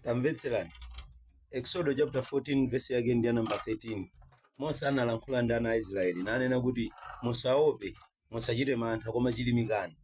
tamvetserani eksodo chapter 14 vesi yake ndi namba 13 mose analankhula ndi ana a israeli nanena kuti musaope musachite mantha koma chilimikani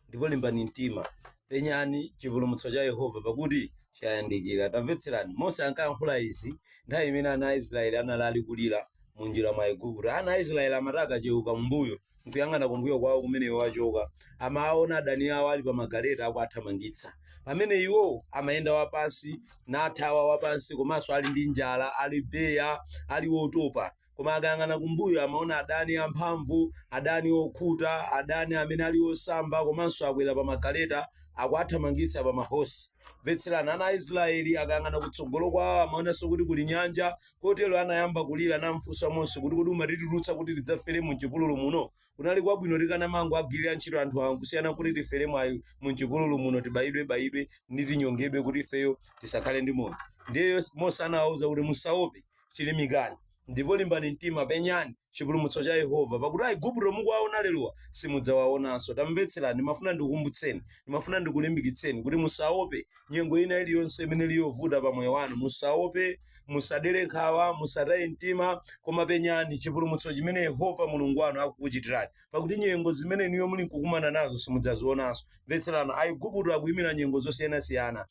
ndipo limbani mtima penyani chipulumutso cha yehova pakuti chayandikira tamvetserani mose ankayankhula izi nthawi imene ana a israeli anali ali kulira mu njira mwa igupto ana a israeli amati akacheuka mbuyo n'kuyang'ana kumbuyo kwawo kumene iwo achoka, amawaona adani awo ali pa magaleta akuwathamangitsa, pamene iwo amayenda wapansi, nathawa wapansi, komanso ali ndi njala, ali beya, ali wotopa. Koma akayang'ana kumbuyo amaona adani amphamvu, adani okhuta, adani amene ali osamba komanso akwera pa magaleta akuwathamangitsa pa mahosi. Mvetserani, ana a Isiraeli akayang'ana kutsogolo kwawo amaonanso kuti kuli nyanja, Kotero anayamba kulira namfunsa Mose kuti, Kodi umatitulutsa kuti tidzafere m'chipululu muno? Kunali kwabwino tikanamangoagwirira ntchito anthu awa kusiyana n'kuti tiferemo ayi mu m'chipululu muno, tibayidwebayidwe ndi tinyongedwe kuti ifeyo tisakhale ndi moyo. Ndiye Mose anawawuza kuti, Musaope, chirimikani ndipo limbani mtima, penyani chipulumutso cha Yehova, pakuti Aigupto mukuwaona lerowa simudzawaonanso. Tamvetserani, ndimafuna ndikukumbutseni, ndimafuna ndikulimbikitseni kuti musaope nyengo ina iliyonse imene ili yovuta pa moyo wanu. Musaope. musadere nkhawa musataye mtima koma penyani chipulumutso chimene yehova mulungu wanu akukuchitirani pakuti nyengo zimene inuyo muli nkukumana nazo simudzazionanso mvetserani aiguputo akuyimira nyengo zosiyanasiyana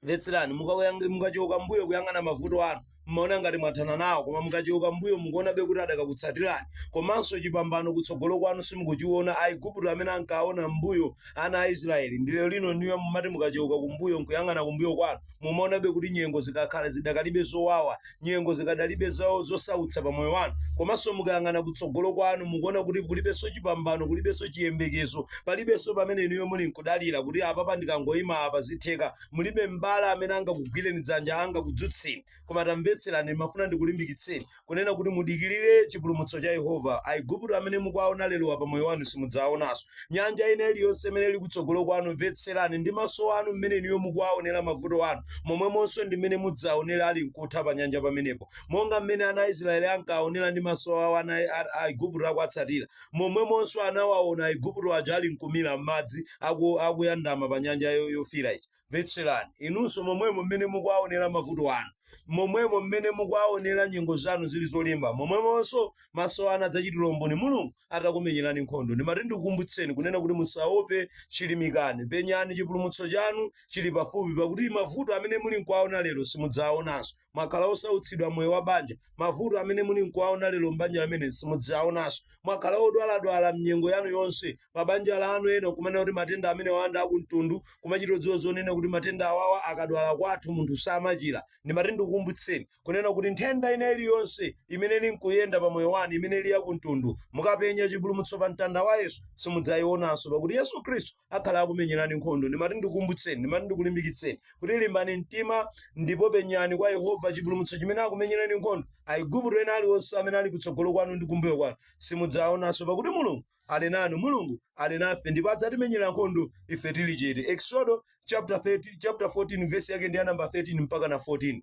mvetserani mukakuyang- mukacheuka mbuyo kuyang'ana mavuto anu mmaona ngati mwathana nawo koma mukacheuka mbuyo mukuonabe kuti adakakutsatirani komanso chipambano kutsogolo kwanu simukuchiona aiguputo amene ankaona mbuyo ana a israeli ndi lero lino inuyo mumati mukacheuka kumbuyo nkuyang'ana kumbuyo kwanu Mumaonabe kuti nyengo zikakhala zidakalibe zowawa, nyengo zikadalibe zo- zosautsa pa moyo wanu, komanso mukayang'ana kutsogolo kwanu mukuona kuti kulibenso chipambano, kulibenso chiyembekezo, palibenso pamene inuyo muli nkudalira kuti apapa ndikangoima apa zitheka, mulibe m'bale amene angakugwireni dzanja, angakudzutseni. Koma tamvetserani, ndimafuna ndikulimbikitseni. kunena kuti mudikirire chipulumutso cha Yehova. Aigupto amene mukuwaona lerowa pa moyo wanu simudzawaonanso. Nyanja ina iliyonse imene ili kutsogolo kwanu, mvetserani ndi maso anu mmene inuyo mukuwaonera mavuto anu, momwemonso ndi mmene mudzaonere ali nkutha panyanja pamenepo. Monga mmene ana a Israyeli ankawaonera ndi maso awo ana a Aigupto akuwatsatira, momwemonso anawaona Aigupto aja ali nkumira m'madzi akuyandama pa nyanja yofiira ija. mvetserani inunso momwemo mmene mukuwaonera mavuto anu momwemo mmene mukuwaonera nyengo zanu zili zolimba momwemonso maso anu adzachitira umboni mulungu atakumenyerani nkhondo ndimati ndikukumbutseni kunena kuti musaope chilimikani penyani chipulumutso chanu chili pafupi pakuti mavuto amene muli nkuwaona lero simudzawaonanso mwakhala osautsidwa moyo wa banja mavuto amene muli nkuwaona lero m'banja lamene simudzaonanso mwakhala odwaladwala mnyengo yanu yonse pa banja lanu ena kumene kuti matenda amene wanda akumtundu kumachita odziwa zonena kuti matenda awawa akadwala kwathu munthu samachira ndimati ndikukumbutseni kunena kuti nthenda ina iliyonse imene ili nkuyenda pa moyo wanu imene ili yakumtundu mukapenya chipulumutso pa mtanda wa yesu simudzayionanso pakuti yesu khristu akhala akumenyerani nkhondo. Ndimati ndikukumbutseni, ndimati ndikulimbikitseni kuti limbani mtima ndipo penyani kwa Yehova chipulumutso chimene akumenyereni nkhondo. Aigupto ena aliwonse amene ali kutsogolo kwanu ndi kumbuyo kwanu simudzawaonanso, pakuti Mulungu ali nanu. Mulungu ali nafe ndipo adzatimenyera nkhondo ife tili chete. Eksodo chapter 14 vesi yake ndi ya namba 13 mpaka na 14.